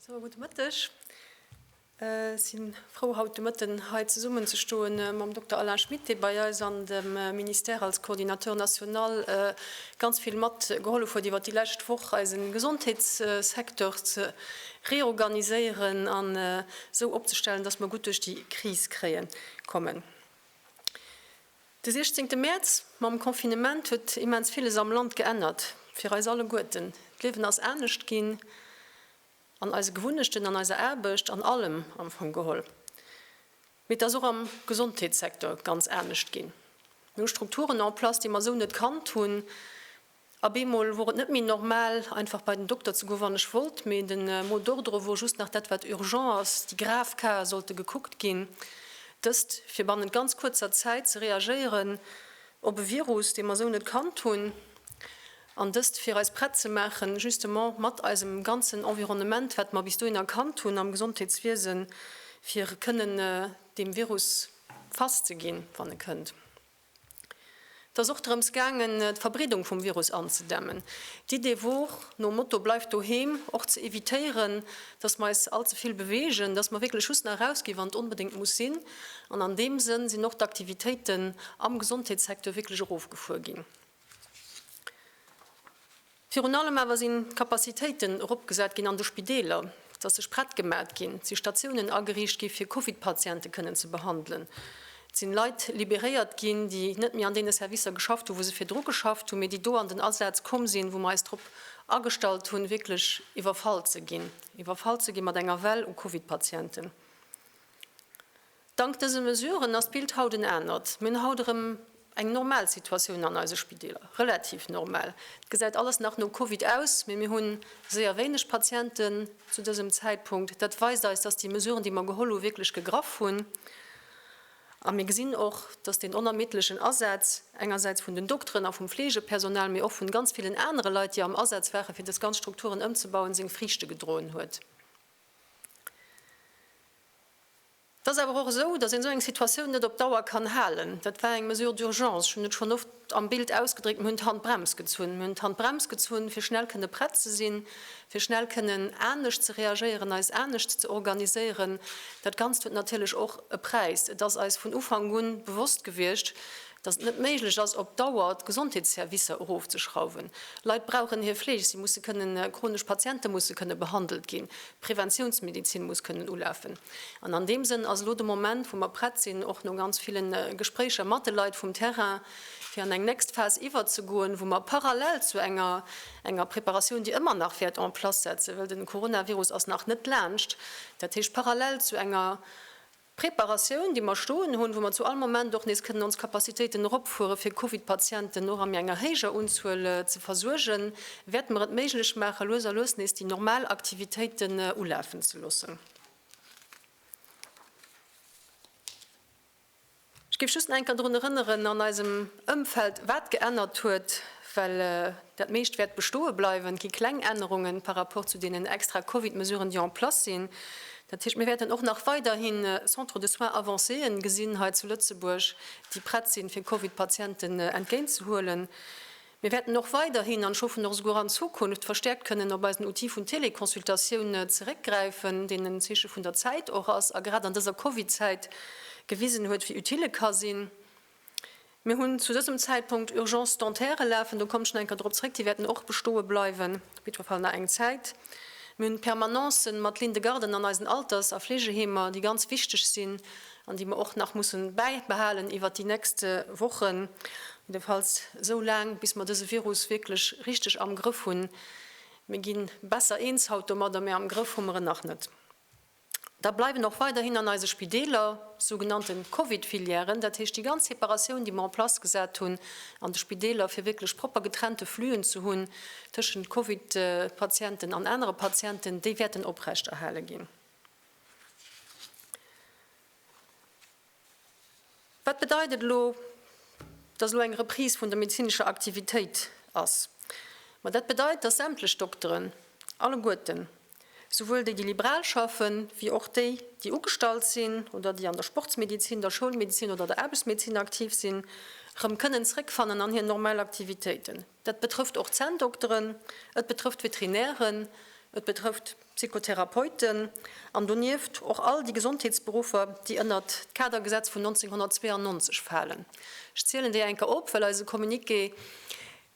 Sou, gudde Mëtteg. Ech si frou, haut de Mëtten hei zesummen ze stoen mam Dokter Alain Schmit, dee bei eis an dem Ministère als Coordinateur national ganz vill mat gehollef huet iwwert déi lescht Woch, eise Gesondheetssecteur ze reorganiséieren an esou opzestellen, datt mer gutt duerch déi Kris kréie kommen. De 16 Mäerz mam Confinement huet immens villes am Land geännert, fir eis alleguerten. D'Liewen ass anescht ginn, an eise Gewunnechten, an eiser Aarbecht, an allem am Fong geholl. Mee et ass och am Gesondheetssecteur ganz anescht ginn. Mir hu Strukturen en place, déi mer esou net kannt hunn. A bemol wor et net méi normal, einfach bei den Dokter ze goen, wann ech wollt, mee de Mot d'ordre wor just nach dat, wat urgent ass, déi grav Casen sollte gekuckt ginn. Dëst, fir bannent ganz kuerzer Zäit ze reagéieren op e Virus, dee mer esou net kannt hunn, an dëst, fir eis prett ze maachen, justement mat eisem ganzen Environnement, wat mer bis dohinner kannt hunn am Gesondheetswiesen, fir kënnen deem Virus fass ze ginn, wann e kënnt. Et ass och drëms gaangen, d'Verbreedung vum Virus anzedämmen. D'Idee wor, nom Motto Bleift doheem, och ze evitéieren, dass mer eis all ze vill bewegen, dass mer wierklech just nach eraus ginn, wann et onbedéngt muss sinn. An an deem Sënn sinn och d'Aktivitéiten am Gesondheetssecteur wierklech erofgefuer ginn. Virun allem awer sinn d'Capacitéiten eropgesat ginn an de Spideeler, dass sech prett gemat ginn, si Statiounen ageriicht gi fir Covid-Patiente kënnen ze behandelen, et sinn Leit liberéiert ginn, déi net méi an deene Servicer geschafft hu wou se virdru geschafft hunn, mee déi do an den Asaz komm sinn, wou mer eis drop agestallt hunn wierklech iwwerfall ze ginn, iwwerfall ze gi mat enger Well u Covid-Patienten. Dank dëse Mesuren ass d'Bild haut en anert. Mir hunn haut erëm eng normal Situatioun an eise Spideeler, relativ normal. Et gesäit alles nach no Covid aus, mee mir hu séier wéineg Patienten zu dësem Zäitpunkt. Dat weist eis, dass déi Mesuren, déi mer geholl hu wierklech gegraff hunn. A mir gesinn och, dass deen onermiddlechen Asaz engersäits vun den Dokteren a vum Fleegepersonal, mee och vun ganz villen anere Leit, déi am Asaz waren, fir dës ganz Strukturen ëmzebauen, seng Friichte gedroen huet. Et ass awer och esou, dass een esou eng Situatioun net op Dauer kann halen. Dat war eng Mesure d'urgence. Ech hunn et schonn oft am Bild ausgedréckt, Mir hunn d'Handbrems gezunn. Mir hunn d'Handbrems gezunn, fir schnell kënne prett ze sinn, fir schnell kënnen anescht ze reagéieren, eis anescht ze organiséieren. Dat Ganzt huet natierlech och e Präis. Et ass eis vun Ufank un bewosst gewiescht, dass et net méiglech ass, op Dauer d'Gesondheetsservicer erofzeschrauwen. Leit brauchen hir Fleeg, si musse kënnen, chronesch Patiente musse kënne behandelt ginn. Preventiounsmedizin muss kënnen ulafen. An an deem Sënn ass elo de Moment, wou mer prett sinn, och no ganz ville Gespréicher mat de Leit vum Terrain, fir an eng nächst Phas iwwerzegoen, wou mer parallel zu enger enger Preparatioun, déi ëmmer nach wäert en place setzen, well de Coronavirus ass nach net laanscht, dat heescht parallel zu enger D'Preparatioun, déi mer stoen hunn, wou mer zu all Moment och nees kënnen ons Capacitéiten eropfueren, fir Covid-Patienten och a méi enger héijer Unzuel ze versuergen, wäerte mer et méiglech maachen, lues a lues nees déi normal Aktivitéiten ulafen ze loossen. Ech géif just nach eng Kéier drun erënneren an eisem Ëmfeld, wat geännert huet, well dat meescht wäert bestoe bleiwen. Et gi kleng Ännerungen par rapport zu deenen extra Covid-Mesuren, déi en place sinn. Dat heescht, mir wäerten och nach weiderhi Centres de soins avancéë gesinn hei zu Lëtzebuerg, déi prett sinn, fir Covid-Patienten entgéintzehuelen. Mir wäerten och weiderhin, an ech hoffen och esouguer an Zukunft, verstäerkt kënnen op eisen Outil vun Téléconsultatioun zeréckgräifen, deen en Zeeche vun der Zäit och ass a grad an dëser Covid-Zäit gewisen huet, wéi utile e ka sinn. Mir hunn zu dësem Zäitpunkt Urgences dentaires lafen, do kommen ech nach eng Kéier drop zréck, déi wäerten och bestoe bleiwen, op jiddwer Fall nach eng Zäit. Mir hunn Permanencen mat Lynn de Garden an eisen Alters a Fleegeheemer, déi ganz wichteg sinn an déi mer och nach mussen bäibehalen iwwert déi nächst Wochen, jiddefalls esou laang, bis mer dëse Virus wierklech richteg am Grëff hunn. Mir gi besser eens haut domadder, mä am Grëff hu mer en nach net. Da bleiwen och weiderhin an eise Spideeler sou genannte Covid-Filièren, dat heescht déi ganz Separatioun, déi mer en place gesat hunn an de Spideeler, fir wierklech propper getrennte Flüen ze hunn tëschent Covid-Patienten an anere Patienten, déi wäerten oprechterhale ginn. Wat bedeit et elo, datt elo eng Reprise vun der medezinescher Aktivitéit ass? Ma dat bedeit, datt sämtlech Dokteren, alleguerten, souwuel déi, déi liberal schaffe wéi och déi, déi ugestallt sinn oder déi an der Sportsmedizin, der Schoulmedizin oder der Aarbechtsmedizin aktiv sinn, erëm kënnen zréckfannen an hir normal Aktivitéiten. Dat betrëfft och d'Zänndokteren, et betrëfft d'Veterinären, et betrëfft. Psychotherapeuten an donieft och all déi Gesondheetsberuffer, déi ënnert d'Kadergesetz vun 1992 falen. Ech zielen déi enker op, well eise Communiqué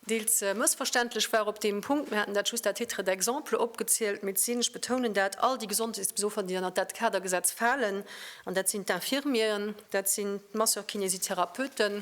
deels mëssverständlech war op deem Punkt. Mir haten dat just à titre d'exemple opgezielt. Mee et sinn, ech betounen dat, all déi Gesondheetsbesuffer, déi ënnert dat Kadergesetz falen. An dat sinn d'Infirmieren, dat sinn d'Masseurs-kinésithérapeuten,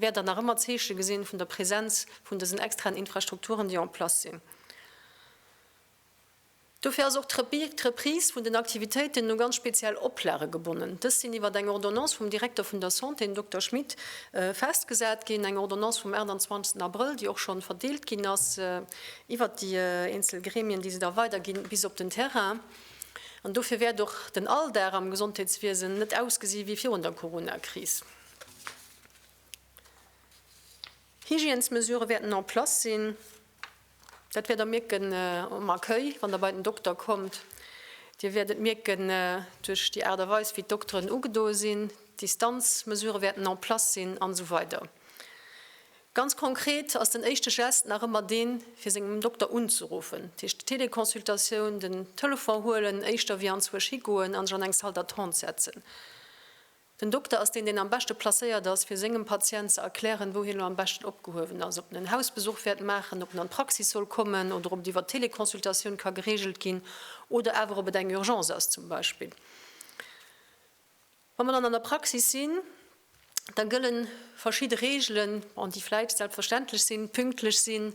wäert Der nach ëmmer Zeeche gesinn vun der Präsenz vun dësen extraen Infrastrukturen, déi en place sinn. Dofir ass och d'Reprise vun den Aktivitéiten u ganz speziell Oplage gebonnen. Dës sinn iwwert eng Ordonnance vum Direkter vun der Santé, den Dokter Schmit, festgesat ginn, eng Ordonnance vum 28 Abrëll, déi och schonn verdeelt ginn ass iwwert déi eenzel Gremien, déi se da weiderginn bis op den Terrain. An dofir wäert och den Alldag am Gesondheetswiesen net ausgesi wéi virun der Corona-Kris. Hygiènesmesure wäerten en place sinn. Dat wäert Der mierken um Accueil, wann Der bei den Dokter kommt. Dir wäert et mierken duerch déi Aart a Weis, wéi d'Dokteren ugedoe sinn. D'Distanzmesure wäerten en place sinn an esou weider Ganz konkret ass den éischte Gest nach ëmmer deen, fir sengem Dokter unzeruffen. Dat heescht, d'Teleconsultatioun, den Telefon huelen, éischter wéi anzwousch higoen an sech an eng Salle d'attente setzen. Den Dokter ass deen, deen am beschte placéiert ass, fir sengem Patient ze erklären, wou hien elo am beschten opgehuewen ass, ob en en Hausbesuch wäert maachen, ob en an d'Praxis soll kommen oder ob et iwwer d'Teleconsultatioun ka gereegelt ginn oder awer ob et eng Urgence ass zum Beispill. Wa mer dann an der Praxis sinn, da gëlle verschidde Reegelen, bon, déi vläicht selbstverständlech sinn, pünktlech sinn,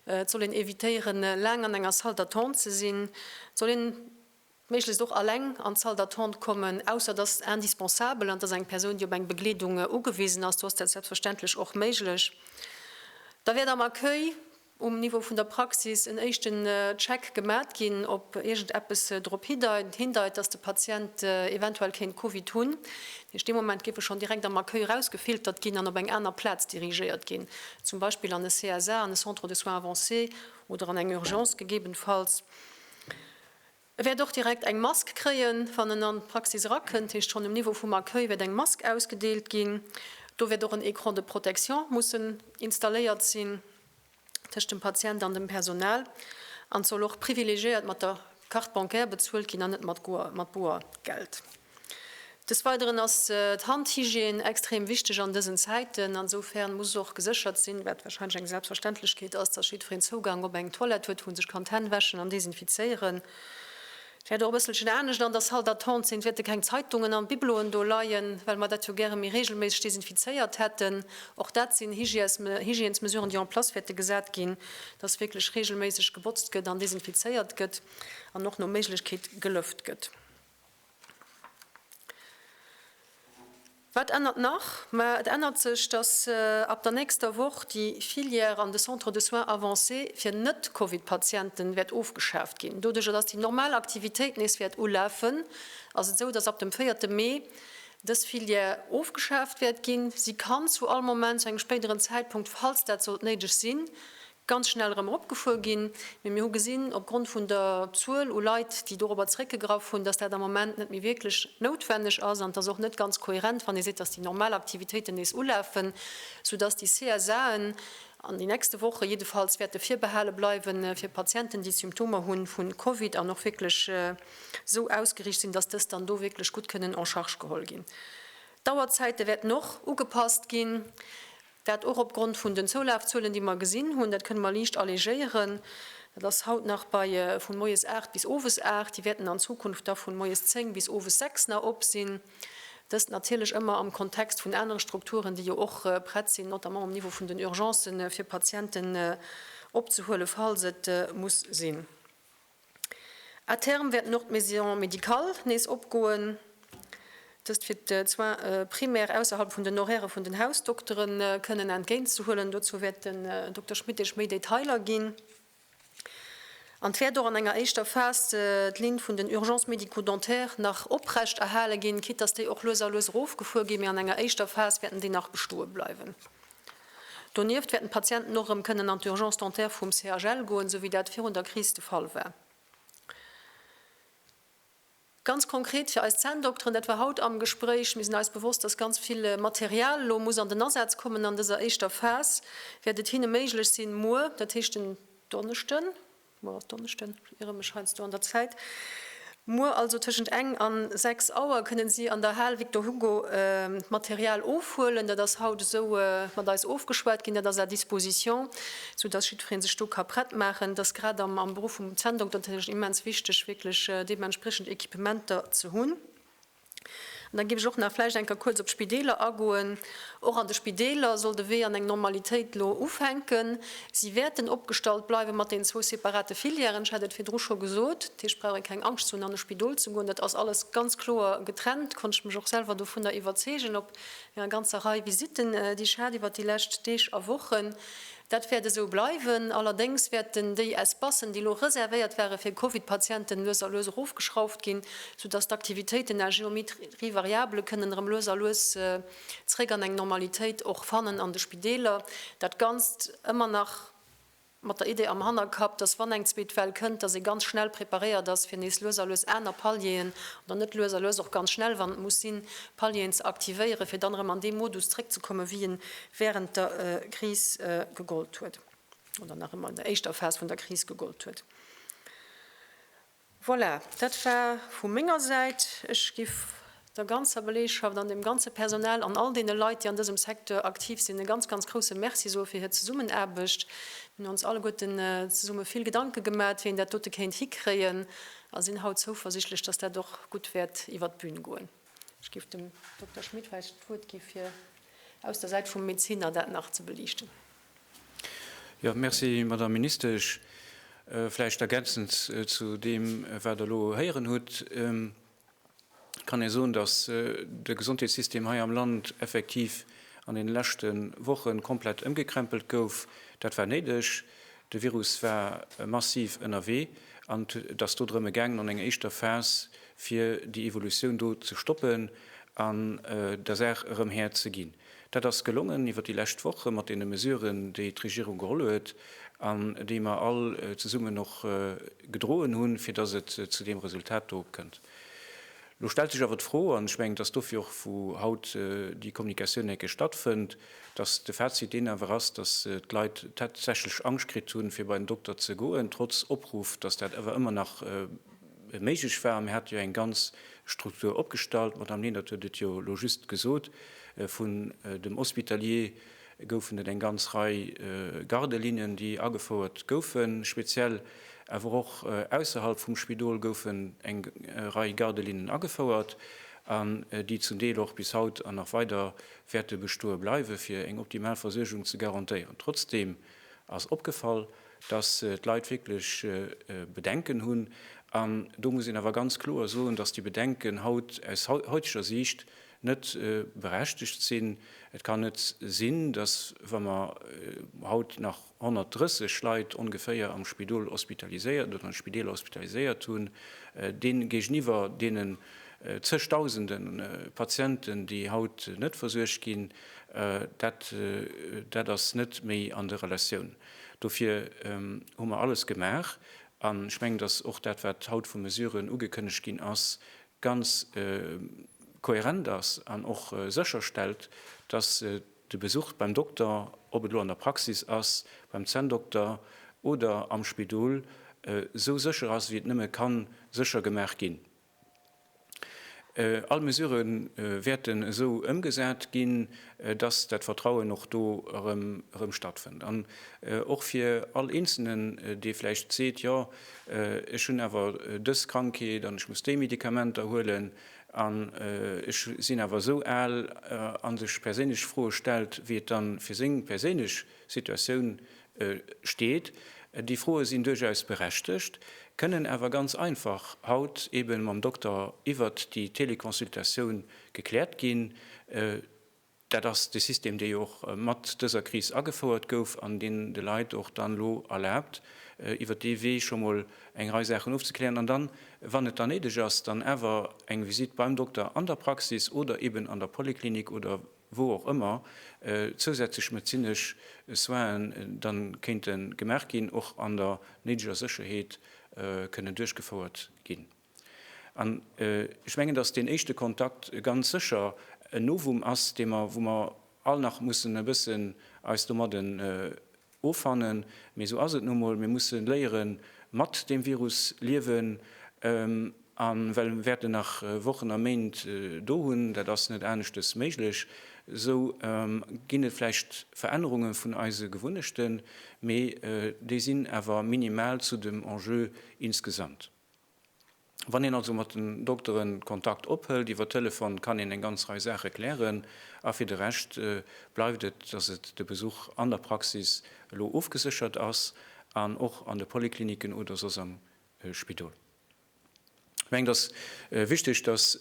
et soll een evitéieren, laang an enger Salle d'attente ze sinn, et soll een méiglechst och alleng an d'Salle d'attente kommen, ausser dass et indispensabel an dass eng Persoun, déi op eng Begleedung ugewisen ass, do ass dat selbstverständlech och méiglech. Da wäert am Accueil um Niveau vun der Praxis en éischten Check gemat ginn, ob iergendeppes drop hindeit, dass de Patient eventuell kéint Covid hunn. Dat heescht, dee Moment géif e schonn direkt am Accueil erausgefiltert ginn an op eng aner Plaz dirigéiert ginn, zum Beispill an e CSA, an e Centre de soins avancés, oder an eng Urgence gegebenfalls. E wäert och direkt eng Mask kréien, wann en an d'Praxis erakënnt. Heescht, schonn um Niveau vum Accueil wäert eng Mask ausgedeelt ginn. Do wäert och en Écran de protection mussen installéiert sinn tëscht dem Patient an dem Personal. An et soll och privilegiéiert mat der Carte bancaire bezuelt ginn an net mat Boergeld. Des Weideren ass d'Handhygiène extrem wichteg an dësen Zäiten. Ansoufern muss och geséchert sinn, wat wahrscheinlech eng Selbstverständlechkeet ass, dass jiddwereen Zougang op eng Toilette huet, wou en sech kann d'Hänn wäschen an desinfizéieren. Et wäert och e bësselchen anescht an der Salle d'attente sinn. Et wäerte keng Zeitungen an Bibeloen do leien, well mer dat jo gäre méi reegelméisseg desinfizéiert hätten. Och dat sinn Hygiènesmesuren, déi en place wäerte gesat ginn, dass wierklech reegelméisseg gebotzt gëtt an desinfizéiert gëtt an och no Méiglechkeet gelëft gëtt. Wat ännert nach? Ma et ännert sech, datt ab der nächster Woch déi Filière an de Centres de soins avancés fir Net-Covid-Patienten wäert ofgeschaaft ginn. Doduerch, datt déi normal Aktivitéit nees wäert ulafen, ass et esou, datt ab dem véierte Mee dës Filière ofgeschaaft wäert ginn. Si kann zu all Moment, zu engem spéideren Zäitpunkt, falls dat sollt néideg sinn, ganz schnell erëm eropgefuer ginn, mee mir hu gesinn, opgrond vun der Zuel u Leit, déi dorobber zréckgegraff hunn, dass dat am Moment net méi wierklech noutwenneg ass. An et ass och net ganz kohärent, wann ee seet, dass déi normal Aktivitéiten nees ulafen, soudass déi CSAen an den nächste Woche jiddefalls wäerte virbehale bleiwen, fir Patienten, déi Symptomer hu vu Covid an och wierklech esou ausgeriicht sinn, dass dës dann do wierklech gutt kënnen en charge geholl ginn. D'Auerzäite wäerten och ugepasst ginn. Dat och opgrond vun den Zoulafzuelen, déi mer gesinn hunn. Dat kënne mer liicht allégéieren. Dat ass haut nach bei vu moies 8 bis owes 8. Déi wäerten an Zukunft da vu moies 10 bis owes 6 nach op sinn. Dëst natierlech ëmmer am Kontext vun anere Strukturen, déi jo och prett sinn, notamment um Niveau vun den Urgencen, fir Patienten opzehuele falls et muss sinn. À terme wäerten och d'Maisons médicales nees opgoen, dëst fir d'Soins primaires ausserhalb vun den Horairë vun den Hausdoktere kënnen entgéintzehuelen. Dozou wäert den Dokter Schmit Iech méi Detailer ginn. An et wäert och an enger éischter Phas d'Linn vun den Urgences médico-dentaires nach oprecht erhale ginn, quitte dass déi och lues a lues erofgefuer ginn, mee an enger éischter Phas wäerten déi nach bestoe bleiwen. Donieft wäerten d'Patienten och erëm kënnen an d'Urgence dentaire vum CHL goen, sou wéi dat virun der Kris de Fall war. Ganz konkret fir eis Zänndokteren, dat war haut am Gespréich, Mir sinn eis bewosst, dass ganz vill Material elo muss an den Asaz kommen an dëser éischter Phas, wäert et hinne méiglech sinn, muer, dat heescht en Donneschden, Muer ass Donneschden, ech iere mech heiansdo an der Zäit, muer also tëschent eng an sechs Auer kënne si an der Hal Victor Hugo d'Material ofhuelen, dat ass haut esou mat eis ofgeschwat ginn, dat ass à disposition, soudass jiddweree sech do ka prett maachen. Dat ass grad am Beruff vum Zänndokter natierlech immens wichteg, wierklech deementspriechend Equipementer ze hunn. An da géif ech och nach vläicht eng Kéier kuerz op d'Spideeler agoen. Och an de Spideeler soll de Wee an eng Normalitéit elo ufänken. Si wäerten opgestallt bleiwe mat deenen zwou separate Filièren, ech hat et virdru scho gesot. Dat heescht, brauch ee keng Angscht ze hunn, an e Spidol ze goen. Dat ass alles ganz kloer getrennt, konnt ech mech och selwer dovunner iwwerzeegen op enger ganzer Rei Visitten, déi ech hat iwwert déi lescht Deeg a Wochen. Dat wäert esou bleiwen. Allerdéngs wäerten déi Espacen, déi elo reservéiert ware fir Covid-Patienten, lues a lues erofgeschrauft ginn, sou datt d'Aktivitéiten à géométrie variable kënnen erëm lues a lues zeréck an eng Normalitéit och fannen an de Spideeler. Dat Ganzt ëmmer nach mat der Idee am Hannerkapp, datt wann eng zweet Well kënnt, datt ee ganz schnell preparéiert ass fir nees lues a lues aner Palieren, oder net lues a lues, och ganz schnell, wann et muss sinn, Palieren ze aktivéieren, fir dann erëm an dee Modus zeréckzekommen, wéi e wärend der Kris gegollt huet, oder nach ëmmer an der éischter Phas vun der Kris gegollt huet. Voilà, dat war vu menger Säit. Ech géif der ganzer Belegschaft an dem ganze Personal an all deene Leit, déi an dësem Secteur aktiv sinn, e ganz, ganz grousse Merci soe fir hir Zesummenaarbecht. Mir hunn ons alleguerten zesumme vill Gedanke gemaat, wéi een dat dote kéint hikréien, a sinn haut zouversichtlech, dass dat och gutt wäert iwwert d'Bühn goen. Ech géif dem Dokter Schmit vläicht d'Wuert gi fir aus der Säit vum Medeziner dat nach ze beliichten. Jo, merci, Madame Ministesch. Vläicht ergänzend zu deem, wat Der elo héieren hutt, kann ee soen, datt de Gesondheetssystem hei am Land effektiv an deene leschte Woche komplett ëmgekrämpelt gouf. Dat war néideg. De Virus war massiv ënnerwee an et ass do drëmme gaangen an enger éischter Phas fir déi Evolutioun do ze stoppen an der Saach erëm Här ze ginn. Dat ass gelongen iwwer déi lescht Woche mat deene Mesuren, déi d'Regierung geholl huet an déi mer all zesummen och gedroen hunn, fir datt et zu deem Resultat do kënnt. Lo stellt sech awer d'Fro, an ech mengen, dass dofir och vu haut déi Kommunikatioun eng Kéier stattfënnt, dass de Fazit deen awer ass, dass d'Leit tatsächlech Angscht kritt hunn, fir bei den Dokter ze goen, trotz Opruff, dass dat awer ëmmer nach méiglech war. Mir hate jo eng ganz Struktur opgestallt, d'Madamm Lenert huet et jo lo just gesot, vun dem Hospitalier goufen et eng ganz Rei Garde-lignen, déi agefouert goufen, speziell awer och ausserhalb vum Spidol goufen eng Rei Garde-lignen agefouert, an déi zum Deel och bis haut an nach weider wäerte bestoe bleiwen, fir eng optimal Versuergung ze garantéieren. Trotzdeem ass opgefall, dass d'Leit wierklech Bedenken hunn, an do muss een awer ganz kloer soen, dass déi Bedenken haut aus heuteger Siicht net berechtegt sinn. Et kann net sinn, dass, wa mer haut nach 130 Leit ongeféier am Spidol hospitaliséiert oder an de Spideeler hospitaliséiert hunn, deene géigeniwwer deenen zeg Dausende Patienten, déi haut net versuergt ginn, dat, dat ass net méi an der Relatioun. Dofir hu mer alles gemaach, an ech mengen, dass och dat, wat haut vu Mesuren ugekënnegt ginn ass, ganz kohärent ass an och sécherstellt, dass de Besuch beim Dokter, ob et elo an der Praxis ass, beim Zänndokter oder am Spidol, esou sécher ass, wéi et nëmme ka sécher gemaach ginn. All Mesurë wäerten esou ëmgesat ginn. dass dat Vertrauen och do erëm stattfënnt an och fir all Eenzelnen, dee vläicht seet, jo ech hunn awer dës Krankheet an ech muss déi Medikamenter huelen an ech sinn awer esou al, a sech perséinlech Froe stellt, wéi et da fir seng perséinlech Situatioun steet, déi Froe sinn duerchaus berechtegt, kënnen awer ganz einfach haut eebe mam Dokter iwwert déi Teleconsultatioun gekläert ginn. Dat ass de System, dee jo och mat dëser Kris agefouert gouf an deen de Leit och dann elo erlaabt, iwwert dee Wee scho mol eng Rei Saachen ofzeklären an dann, wann et dann néideg ass, dann awer eng Visitt beim Dokter an der Praxis oder eeben an der Poliklinik oder. wou och ëmmer, zousätzlech medezinesch Soinen dann kéinte gemaach ginn, och an der néideger Sécherheet kënnen duerchgefouert ginn. An ech mengen, dass deen éischte Kontakt ganz sécher en Novum ass, dee mer, wou mer all nach mussen e bëssen eis domadden, Offannen, mee esou ass et nu mol. Mir musse léieren, mat deem Virus liewen an well mir wäerten nach Wochen a Méint do hunn, dat ass net aneschtes méiglech, esou ginn et vläicht Verännerunge vun eise Gewunnechten, mee déi sinn awer minimal zu dem Enjeu insgesamt. Wann een also mat den Doktere Kontakt ophëlt, iwwer Telefon, kann een eng ganz Rei Saache klären. A fir de Rescht bleift et, dass et de Besuch an der Praxis elo ofgeséchert ass an och an de Poliklinicken oder soss am Spidol. Ech mengen, et ass wichteg, dass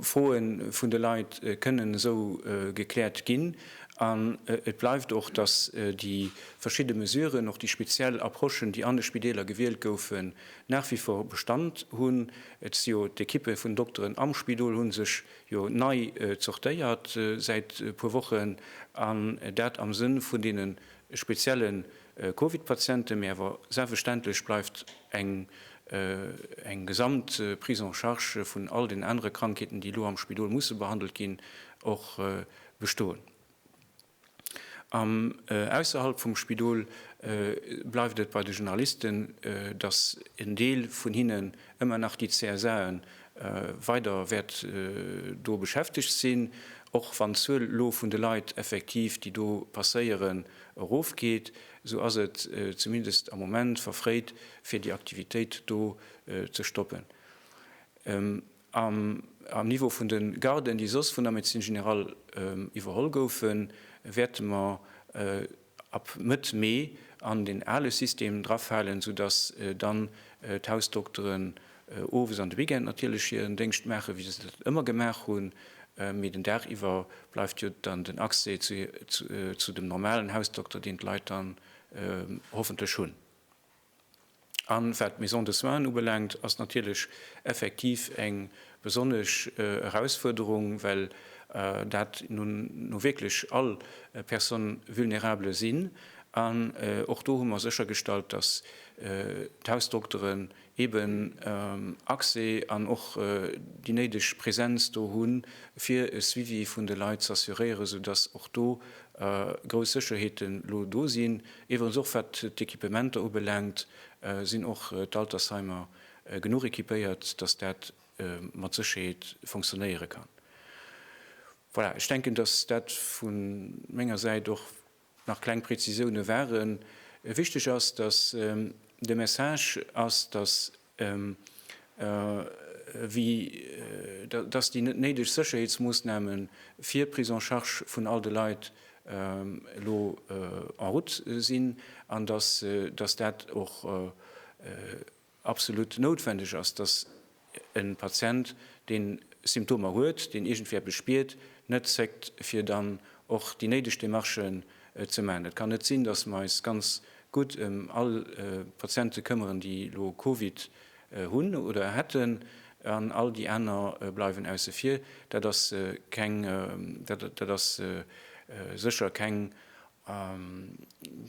Froe vun de Leit kënnen esou gekläert ginn. An et bleift och, dass déi verschidde Mesuren, och déi speziell Approchen, déi an de Spideeler gewielt goufen, nach wie vor Bestand hunn. Et si jo d'Ekippe vun Dokteren am Spidol hu sech jo nei zortéiert säit e puer Wochen, an dat am Sënn vun deene spezielle Covid-Patienten. Mee awer selbstverständlech bleift eng gesamt Prise en charge vun all den anere Krankheeten, déi elo am Spidol musse behandelt ginn, och bestoen. An ausserhalb vum Spidol bleift et bei de Journalisten, datt en Deel vun hinnen ëmmer nach déi CSAe weider wäert do beschäftegt sinn, och wann d'Zuel elo vun de Leit effektiv, déi do passéieren, erofgeet, esou ass et zumindest am Moment verfréit, fir déi Aktivitéit do ze stoppen. Am Niveau vun de Garden, déi soss vun der Médecine générale iwwerholl goufen, wäerte mer ab Mëtt Mee an den ale System drafalen, soudass dann d'Hausdokteren owes an de Weekend natierlech hiren Déngscht maachen, wéi se dat ëmmer gemaach hunn, mee den Dag iwwer bleift jo dann den Accès zu dem normalen Hausdokter, deen d'Leit dann hoffentlech hunn. An wat d'Maisons de soins ubelaangt, ass natierlech effektiv eng besonnesch Erausfuerderung, well dat nu wierklech all Personnes vulnérables sinn. An och do hu mer séchergestallt, dass d'Hausdokteren eeben Accès an och déi néideg Präsenz do hunn, fir e Suivi vun de Leit z'assuréieren, soudass och do grouss Sécherheete lo do sinn. Iwwregens och wat d'Equipementer ubelaangt, sinn och d'Altersheimer genuch equipéiert, dass dat mat Sécherheet fonctionnéiere kann. Voilà, ech denken, dass dat vu menger Säit och nach kleng Präzisiounen waren. Wichtig ass, dass de Message ass, dass wéi datt déi net néideg Sécherheetsmoossnamen fir d'Prise en charge vun all de Leit elo en route sinn an datt dat och absolut noutwendeg ass, datt e Patient, deen Symptomer huet, deen iergendwéi eppes spiert, net zéckt, fir dann och déi néideg Demarchen ze maachen. Et kann net sinn, datt mer eis ganz gutt ëm all Patiente këmmeren, déi elo Covid hunn oder hätten, an all déi aner bleiwen ausse vir. Dat ass keng, dat ass sécher keng,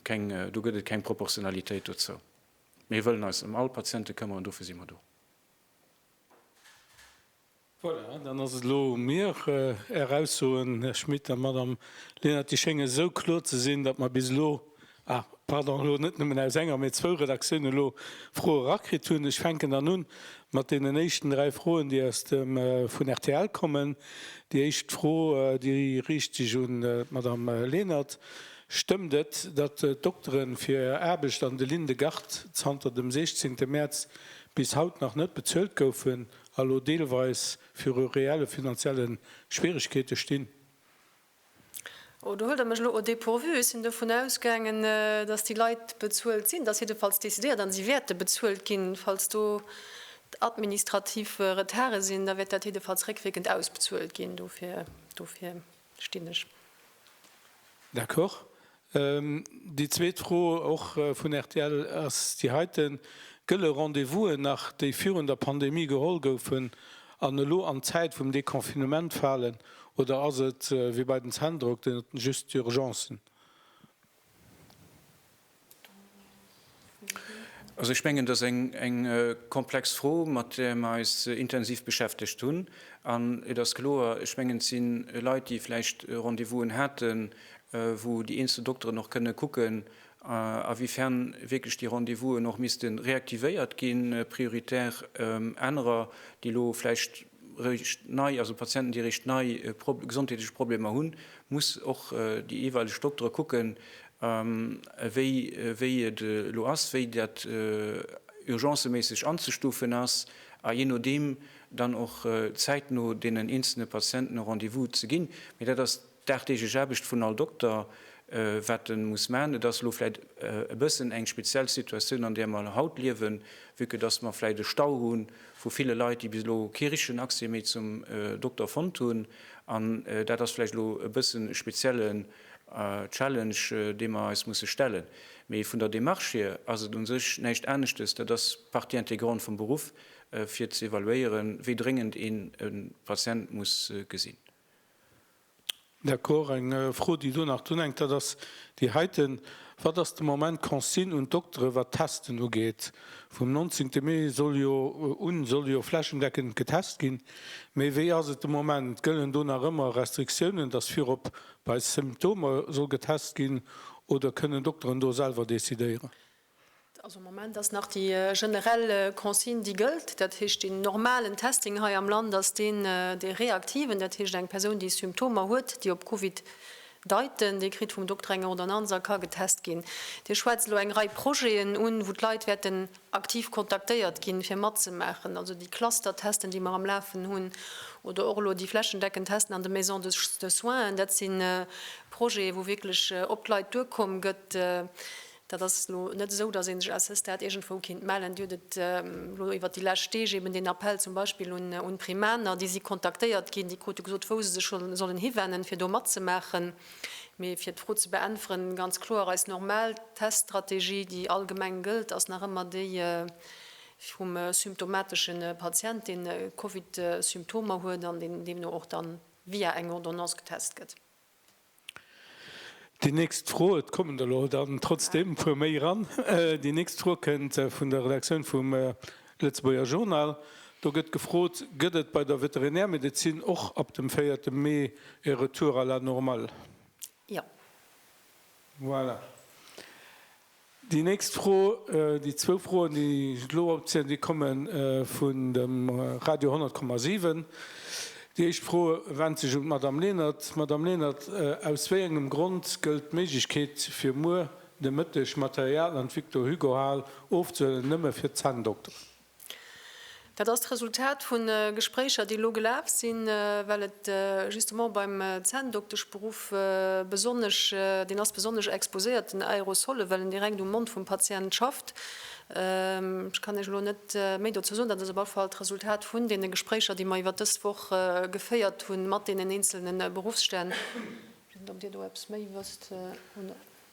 keng, do gëtt et keng Proportionalitéit dozou. Mir wëllen eis ëm all Patiente këmmeren, dofir si mer do. Voilà, dann ass et elo u mir. Är Aussoen, Här Schmit a Madame Lenert, déi schéngen esou kloer ze sinn, datt mer bis elo, ah pardon, elo net nëmmen aus enger, mee zwou Redaktiounen elo Froe erakritt hunn. Ech fänken dann un mat deenen éischten dräi Froen, déi aus dem, vun rtl kommen. Déi éischt Fro, déi riicht sech un d'Madame Lenert, Stëmmt et, datt d'Doktere fir Är Aarbecht an de Linde-Garde zanter dem 16 Mäerz bis haut nach net bezuelt goufen elo deelweis viru reelle finanzielle Schwierigkeete stinn. Oh, do huelt Der mech elo au dépourvu. Ech sinn dovun ausgaangen, dass déi Leit bezuelt sinn. Et ass jiddefalls décidéiert a si wäerte bezuelt ginn. Falls do administrativ Retarde sinn, da wäert dat jiddefalls réckwierkend ausbezuelt ginn. Dofir, dofir. stinn ech. D'accord. Déi zweet Fro, och vun rtl, ass déi heiten, Gëlle Rendez-vousen nach, déi virun der Pandemie geholl goufen an elo an d'Zäit vum Deconfinement falen oder ass et wéi bei den Zänndrock, just d'Urgencen? Also ech mengen, dass eng komplex Fro, mat där mer eis intensiv beschäftegt hunn. An et ass kloer, ech mengen, et si Leit, déi vläicht Rendez-vousen haten, wou déi eenzel Dokteren och kënne kucken, awifern wierklech déi Rendez-vousen och misste reaktivéiert ginn, prioritär anerer, déi elo vläicht eréischt nei, also Patienten, déi eréischt nei gesondheetlech Problemer hunn, muss och déi jeweileg Doktere kucken, wéi et elo ass, wéi dat urgenceméisseg anzestufen ass, a jee nodeem dann och zäitno deenen eenzelne Patienten e Rendez-vous ze ginn. Mee dat ass dagdeeglech Aarbecht vun all Dokter, wat e muss maachen. Et ass elo vläicht e bëssen eng speziell Situatioun, an där mer haut liewen, vu que dass mer vläicht e Stau hu vu ville Leit, déi bis elo kee richtegen Accès méi zum Dokter fonnt hunn. An dat ass vläicht elo e bëssen e speziellen Challenge, dee mer eis musse stellen. Mee vun der Demarche hier ass et u sech näischt aneschtes, dat ass Partie intégrante vum Beruff, fir ze evaluéieren, wéi dréngend een e Patient muss gesinn. D'accord. Eng Fro, déi do nach drunhänkt, dat ass déi heiten, Wat ass de Moment d'Consigne un d'Doktere wat d'Testen ugeet? Vum 19 Mee soll jo un soll jo flächendeckend getest ginn. Mee wéi ass et de Moment? Gëllen do nach ëmmer Restriktiounen, datt virop bei Symptomer soll getest ginn oder kënnen Dokteren do selwer decidéieren? Also am Moment ass nach déi generell Consigne déi gëllt. Dat heescht den normalen Testing hei am Land ass deen dee reaktiven, dat heescht eng Persoun déi Symptomer huet, déi op Covid Deiten, Dir kritt vum Dokter eng Ordonnance a ka getest ginn. Dir schwätzt elo eng Rei Projeten un, wou d'Leit wäerten aktiv kontaktéiert ginn, fir matzemaachen, also déi Cluster-Testen, déi mer am Lafen hunn, oder och elo déi flächendeckend Testen an de Maisons de soins. Dat si Projete, wou wierklech op d'Leit duerkomm gëtt. Dat ass elo net esou, datt ee sech à ce stade iergendwou kinnt mellen. Dir hutt et elo iwwert déi lescht Deeg eben deen Appell zum Beispill un d'Primaner. Déi si kontaktéiert ginn, déi krute gesot, wou se sech sollen hiwennen, fir do matzemaachen. Mee fir d'Fro ze beäntweren, ganz kloer, eis normal Teststrategie, déi allgemeng gëllt, ass nach ëmmer déi vum symptomatesche Patient, deen Covid-Symptomer huet an deen deemno och dann via eng Ordonnance getest gëtt. Déi nächst Fro, et kommen der elo dann trotzdem e puer méi eran, déi nächst Fro kënnt vun der Redaktioun vum Lëtzebuerger Journal. Do gëtt gefrot, Gëtt et bei der Veterinärmedezin och ab dem véierte Mee e Retour à la normale? Jo. Voilà. Déi nächst Fro, déi zwou Froen, déi ech elo opzielen, déi komme vun dem Radio 100,7. Déi éischt Fro went sech un d'Madamm Lenert. Madamm Lenert, aus wéi engem Grond gëllt d'Méiglechkeet, fir muer de Mëtteg Material an d'Victor-Hugo-Hal ofzehuelen, nëmme fir d'Zänndokteren? Dat ass d'Resultat vu Gespréicher, déi elo gelaf sinn, well et justement beim Zänndokteschberuff besonnesch, deen ass besonnesch exposéiert den Aerosolle well en direkt um Mond vum Patient schafft. Ech kann Iech elo net méi dozou soen. Dat ass op alle Fall d'Resultat vun deene Gespréicher, déi mer iwwert dës Woch geféiert hu mat deenen eenzelne Berufsstänn.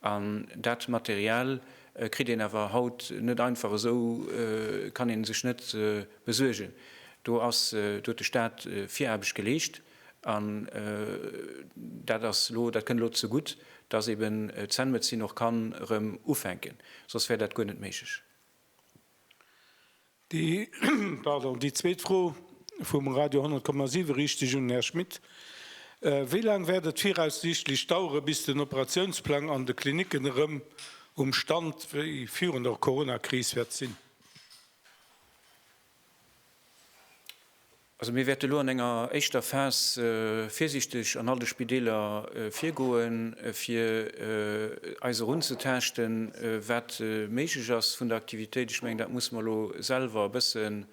An dat Material kritt een awer haut net einfach esou, kann ee sech net besuergen. Do ass, do huet de Staat Viraarbecht geleescht. An dat ass elo, dat kënnt elo zegutt, dass eeben d'Zenmedezin och kann erëm ufänken, soss wär dat guer net méiglech. Déi zweet Fro vum Radio 10,7 riicht sech un den Här Schmit. Wéi laang wäert et viraussiichtlech daueren, bis den Operatiounsplang an de Klinicken erëm um Stand wéi virun der Corona-Kris wäert sinn? Also mir wäerte elo an enger éischter Phas virsiichteg an all de Spideeler virgoen, fir eis erun ze taaschten, wat méiglech ass vun der Aktivitéit. Ech mengen, dat muss mer elo selwer e bëssen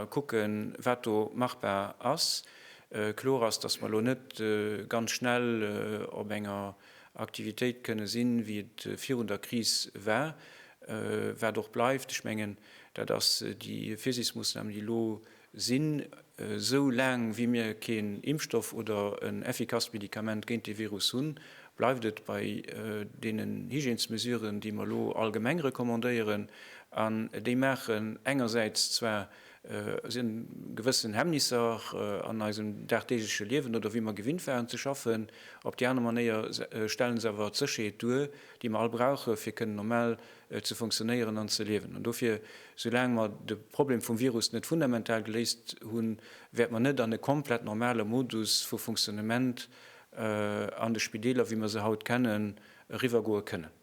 kucken, wat do machbar ass. Kloer ass, dass mer elo net ganz schnell op enger. Aktivitéit kënne sinn, wéi et virun der Kris war, wat och bleift. Ech mengen, dat ass déi Virsiichtsmoossnamen, déi elo sinn, esou laang wéi mir keen Impfstoff oder en effikasst Medikament géint dee Virus hunn, bleift et bei deenen Hygiènesmesuren, déi mer elo allgemeng recommandéieren. An déi maachen engersäits zwar Et sinn gewëssen Hemmnisser an eisem dagdeegleche Liewen oder wéi mer gewinnt waren ze schaffen. Op déi aner Manéier stellen se awer d'Sécherheet duer, déi mer all brauchen, fir kënnen normal ze funktionéieren an ze liewen. An dofir, soulaang mer de Problem vum Virus net fundamental geléist hunn, wäert mer net an e komplett normale Modus vu Funktionnement an de Spideeler, wéi mer se haut kennen, eriwwergoe kënnen.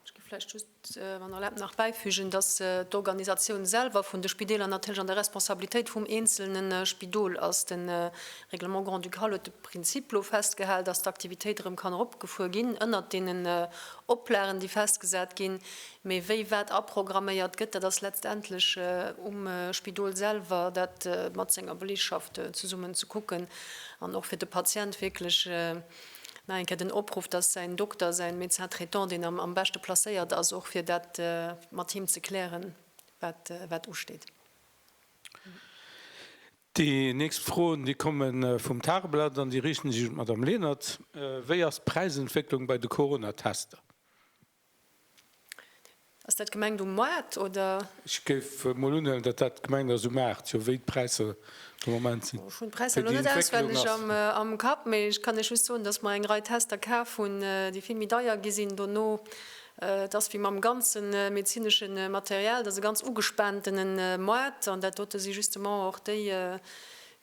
Ech géif vläicht just, wann Der erlaabt, nach bäifügen, dass d'Organisatioun selwer vun de Spideeler natierlech an der Responsabilitéit vum eenzelne Spidol ass. De Règlement grand-ducal huet elo de Prinzip festgehal, dass d'Aktivitéit erëm kann eropgefuer ginn ënnert deenen Oplagen, déi festgesat ginn. Mee wéi wat aprogramméiert gëtt, dat ass letztendlech um Spidol selwer, dat mat senger Beleegschaft zesummen ze kucken an och fir de Patient wierklech, Nach eng Kéier den Opruff, dass säin Dokter, säin Médecin traitant deen am beschte placéiert ass och fir dat mat him ze klären, wat usteet. Déi nächst Froen, déi komme vum Tageblatt an déi riichte sech un d'Madamm Lenert. Wéi ass d'Präisentwécklung bei de Coronatester? Ass dat gemengt um Moart oder? Ech géif mol unhuelen dat dat gemengt ass um Maart, jo wéi d'Präisser de Moment sinn. Ech hunn d'Präisser elo net auswenneg am Kapp, mee ech kann Iech just soen, datt mer eng Rei Tester kaf hunn, déi vill méi deier gi sinn dono. Et ass wéi mam ganze medezinesche Material, et ass e ganz ugespaantene Moart an dat dote si justement och déi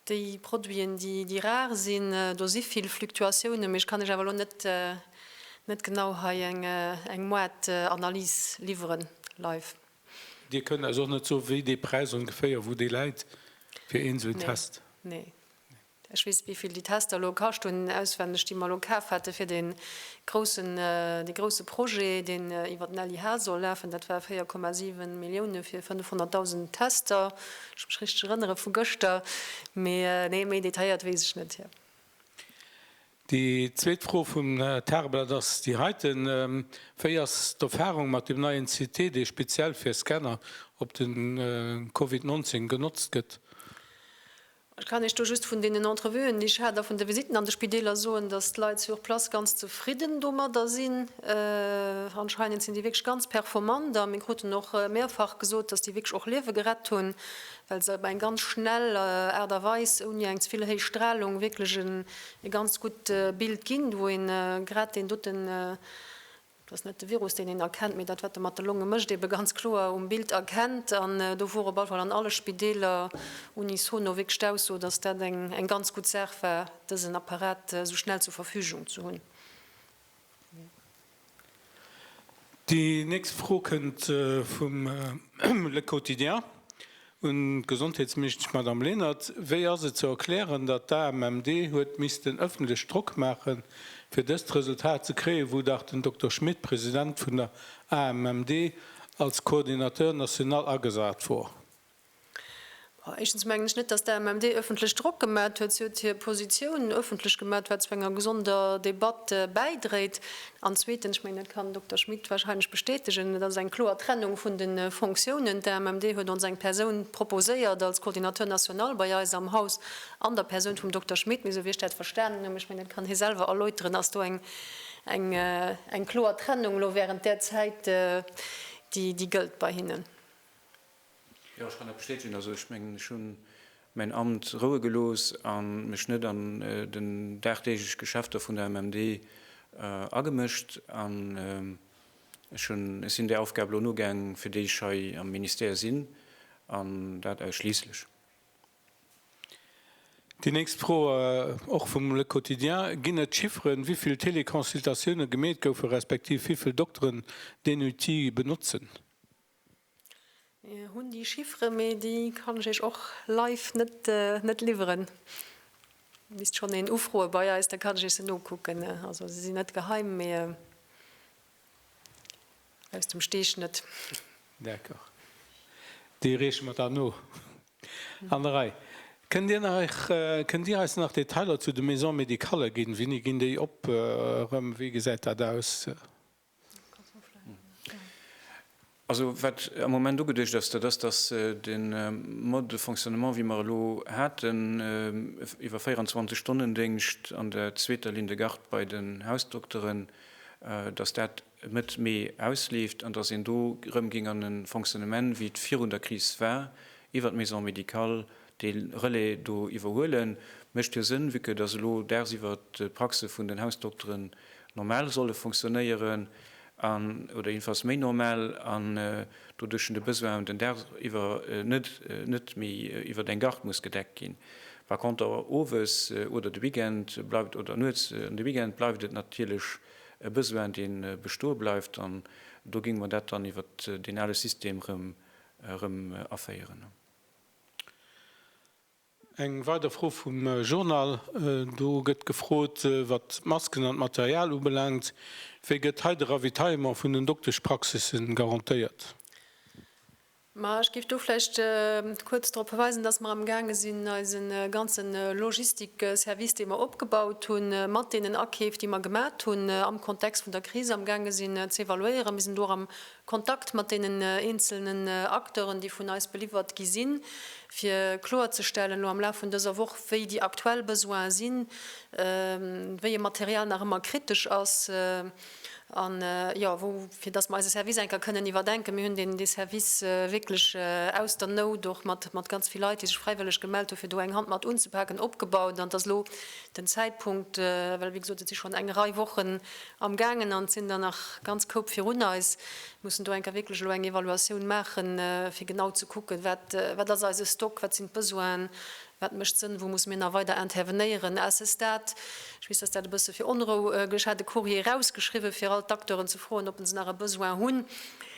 Déi Produiten, déi rar sinn, do si vill Fluktuatiounen, mee ech kann lech awer elo net genau hei eng Moartanalys liwweren, live. Dir kënnt eis och net soen, wéi dee Präis ongeféier, wou dee läit fir een esou en Test? Nee, ech weess net, wéi vill déi Tester elo kascht hunn, auswenneg, déi mer elo kaf hate fir dee Groussen, dee grousse Projet, deen iwwer den LIH soll lafen, dat war 4,7 Millioune fir 500.000 Tester, wann ech mech richteg erënnere vu gëschter. Mee nee, méi detailléiert weess ech net, Här. Déi zweet Fro vum Här Tarbert ass déi heiten, Wéi ass d'Erfarung mat deem neien CT, dee speziell fir Scanner op de Covid 19 genotzt gëtt? Ech kann Iech do just vun deenen Entrevuen, déi ech hat, a vun de Visitten an de Spideeler soen, dass d'Leit sur place ganz zefridden domadder sinn. Anscheinend sinn déi wierklech ganz performant a mir kruten och mehrfach gesot, dass déi wierklech och Liewe gerett hunn, well se op eng ganz schnell Aart a Weis, ouni eng ze vill héich Stralung, wierklech e ganz gutt Bild ginn, wou ee grad deen dote Dat ass net de Virus, deen een erkennt, mee dat, wat e mat de Longe mécht, eebe ganz kloer um Bild erkennt. An do wor op alle Fall an alle Spideeler unisono wierklech d'Ausso, dass dat eng ganz gutt Saach war, dësen Apparat esou schnell zur Verfügung ze hunn. Déi nächst Fro kënnt vum Le Quotidien. Un d'Gesondheetsministesch Madame Lenert, Wéi ass et ze erklären, datt d'AMMD huet missten ëffentlech Drock maache fir dëst Resultat ze kréien, wou dach den Dokter Schmit, President vun der AMMD, als Coordinateur national agesat wor? Éischtens mengen ech net, datt d'AMMD ëffentlech Drock gemat huet. Si huet hir Positioun ëffentlech gemat, wat zu enger gesonder Debatt bäidréit. An zweetens, ech mengen, dat kann den Dokter Schmit wahrscheinlech bestätegen, et ass eng kloer Trennung vun de Fonctiounen. D'AMMD huet ons eng Persoun proposéiert als Coordinateur national bei eis am Haus an der Persoun vum Dokter Schmit. Mee esou wéi ech dat verstanen hunn, ech mengen, dat kann hie selwer erläuteren, ass do eng kloer Trennung elo während där Zäit, déi gëllt bei hinnen. Jo, ech kann dat bestätegen. Also ech mengen, ech hunn mäin Amt roue gelooss a mech net an den dagdeeglech Geschäfter vun der MMD agemëscht. An ech hunn, ech sinn där Aufgab elo nogaang, fir déi ech hei am Ministère sinn, an dat ausschliisslech. Déi nächst Fro, och vum Le Quotidien, Ginn et Chifferen, wivill Teleconsultatioune gemeet goufen, respektiv wivill Dokteren deen Outil benotzen? Hunn déi Chifferen, mee déi kann ech Iech och live net liwweren. Misst schonn een ufroe bei eis, da kann ech Iech se nokucken. Also se sinn net geheim, mee aus dem Steeg net. D'accord, déi reeche mer dann no an der Rei. Kënnt Dir nach, kënnt Dir eis nach Detailer zu de Maison-médicalë ginn? Wéini ginn déi op erëm? Wéi gesäit dat aus? Also wat am Moment ugeduecht ass, dat ass, datt de Mode de fonctionnement, wéi mer e lo haten, iwwer 24 Stonnen-Déngscht an der zweeter Ligne de garde bei den Hausdokteren, datt dat Mëtt Mee ausleeft an datt een do erëm géing an e Fonctionnement, wéi et virun der Kris war, iwwer d'Maison médicale, dee Relais do iwwerhuelen, mécht jo Sënn, vu que datt elo dagsiwwer d'Praxe vun den Hausdokteren normal solle fonctionnéieren an, oder jedenfalls méi normal, an doduerch den de Besoin un den Dag iwwer net, net méi iwwer eng Garde muss gedeckt ginn. Par conter owes oder de Weekend bleift, oder nuets an de Weekend, bleift et natierlech e Besoin, dee bestoe bleift, an do géinge mer dat dann iwwer deen ale System erëm, erëm aféieren. Eng weider Fro vum Journal, do gëtt gefrot, wat d'Masken an d'Material ubelaangt, Wéi gëtt hei de Ravitaillement vun den Dokteschpraxisse garantéiert? Ma ech géif do vläicht kuerz drop verweisen, datt mer amgaange sinn, eise ganze Logistik-Service, dee mer opgebaut hunn, mat deenen Akeef, déi mer gemat hunn am Kontext vun der Kris, amgaange sinn ze evaluéieren. Mir sinn do och am Kontakt mat deenen eenzelnen Acteuren, déi vun eis beliwwert gi sinn, fir kloerzestellen elo am Laf vun dëser Woch, wéi déi aktuell Besoine sinn, wéi e Material nach ëmmer kritesch ass a jo, wou, fir dass mer eise Service eng Kéier kënnen iwwerdenken. Mir hunn deen dee Service wierklech aus der Nout, och mat mat ganz vill Leit, déi sech fräiwëlleg gemellt hu fir do eng Hand mat unzepaken, opgebaut. An et ass elo den Zäitpunkt, well wéi gesot et si schonn eng Rei Wochen, Amgaangen an et sinn der nach ganz Koup virun eis. Mir mussen do enker wierklech elo eng Evaluatioun maachen, fir genau ze kucken, wat, wat ass eise Stock, wat sinn d'Besoinen, wat mécht Sënn, wou musse mir nach weider intervenéieren. À ce stade, ech weess, dass dat e bësse fir Onrou gesuergt hat, e Courrier erausgeschriwwen, fir all d'Acteuren ze froen, ob se nach e Besoin hunn.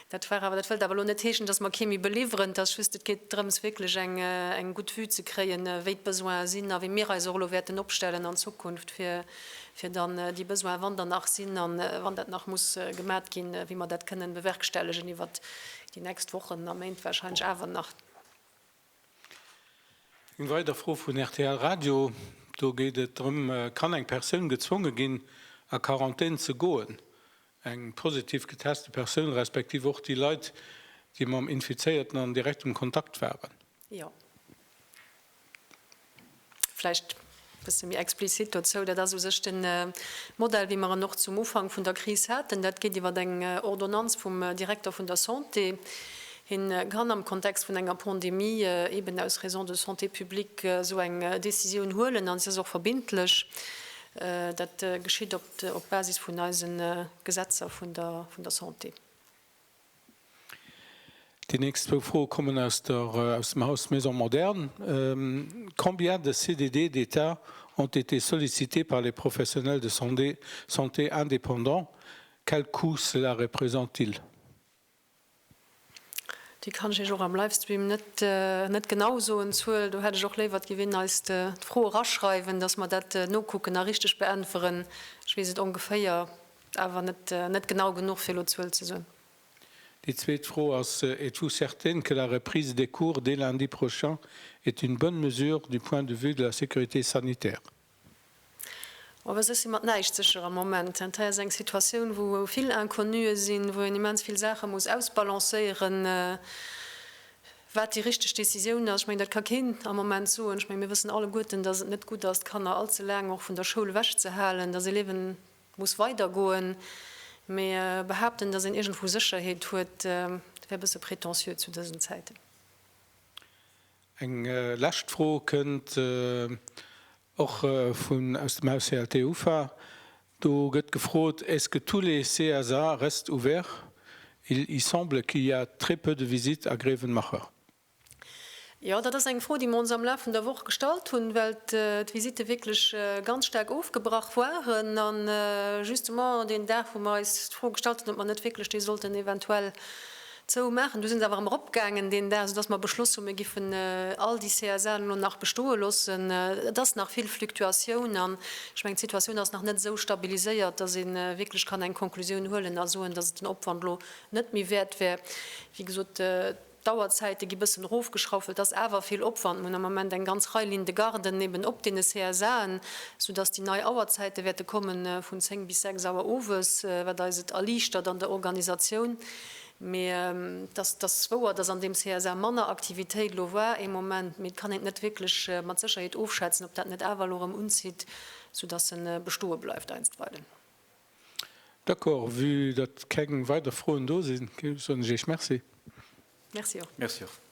Dat war awer, dat wëllt awer elo net heeschen, dass mer kee méi beliwweren. Et ass just, et geet drëms, wierklech eng, eng gutt Vue ze kréien, wéi d'Besoinen sinn a wéi mir eis och elo wäerten opstellen an Zukunft, fir, fir dann déi Besoin, wann der nach sinn a wann dat nach muss gemat ginn, wéi mer dat kënnen bewerkstellegen iwwert déi nächst Wochen a Méint wahrscheinlech awer nach. Eng weider Fro vun rtl Radio, do geet et drëm, Kann eng Persoun gezwonge ginn, a Quarantän ze goen, eng positiv geteste Persoun respektiv och déi Leit, déi mam Infizéierten an direktem Kontakt waren? Jo. Vläicht e bësse méi explizit dozou, Dat ass u sech de Modell, wéi mer en och zum Ufank vun der Kris haten. Dat geet iwwer eng Ordonnanz vum Direkter vun der Santé. Hien kann am Kontext vun enger Pandemie eeben aus Raisons de santé publique esou eng Décisioun huelen an si ass och verbindlech. Dat geschitt op Basis vun eise Gesetzer vun der Santé. Déi nächst zwou Froe kommen aus dem Haus Maison Moderne. Combien de CDD d'État ont été sollicités par les professionnels de santé indépendants? Quel coût cela représente-t-il? Déi kann ech Iech och am Livestream net genau soen, d'Zuel. Do hätt ech och léiwer, d'Gi Winn eis d'Fro eraschreiwen, dass mer dat nokucken a richteg beäntweren. Ech weess et ongeféier, Awer net genau genuch fir elo d'Zuel ze soen. Déi zweet Fro ass, Êtes-vous certaine que la reprise des cours dès lundi prochain est une bonne mesure du point de vue de la sécurité sanitaire? Oh, ech si mat näischt sécher am Moment. Dat hei ass eng Situatioun, wou vill Inconnue sinn, wou een immens vill Saache muss ausbalancéieren, wat déi richteg Décisioun ass. Ech mengen, dat ka keen am Moment soen. Ech mengen, mir wëssen alleguerten, dass et net gutt ass, d'Kanner allze laang och vun der Schoul ewechzehalen, dass Eleven muss weider goen, mee behaapten dass een iergendwou Sécherheet huet wär bësse prétentieux zu dësen Zäiten. Eng lescht Fro kënnt och vun aus dem Haus CLT ufa. Do gëtt gefrot, Est-ce que tous les CSA restent ouverts? Il y semble qu'il y a très peu de visites à Grevenmacher. Jo, dat ass eng Fro, déi mer ons am Laf vun der Woch gestallt hunn, well d'Visitte wierklech ganz staark ofgebrach waren. A justement deen Dag, wou mer eis d'Fro gestallt hunn, ob mer net wierklech déi sollten eventuell zou maachen, du sinn se awer erëm eropgaangen deen Dag, soudass mer beschloss hunn, mir giffen all déi CSA:en elo nach bestoe loossen. Et ass nach vill Fluctuatioun an ech mengen, d'Situatioun ass nach net esou stabiliséiert, dass ee wierklech kann eng Konklusioun huelen a soen, dass et den Opwand elo net méi wäert wär, wéi gesot, D'Auerzäite gi bëssen erofgeschrauft, well et ass awer vill Opwand. Mir hunn am Moment eng ganz Rei Lignes de garde némmen op deene CSAen, soudass déi nei Auerzäite wäerte komme vun 10 bis 6 Auer owes, wat eis et erliichtert an der Organisatioun. Mee et ass wouer, dass an deem CSA manner Aktivitéit elo war ee Moment, mee et kann een et net wierklech mat Sécherheet ofschätzen, ob dat net awer elo erëm unzitt, soudass e bestoe bleift einstweilen. D'accord, vue datt keng weider Froen do sinn, soen ech Iech Merci. Merci och. Merci och.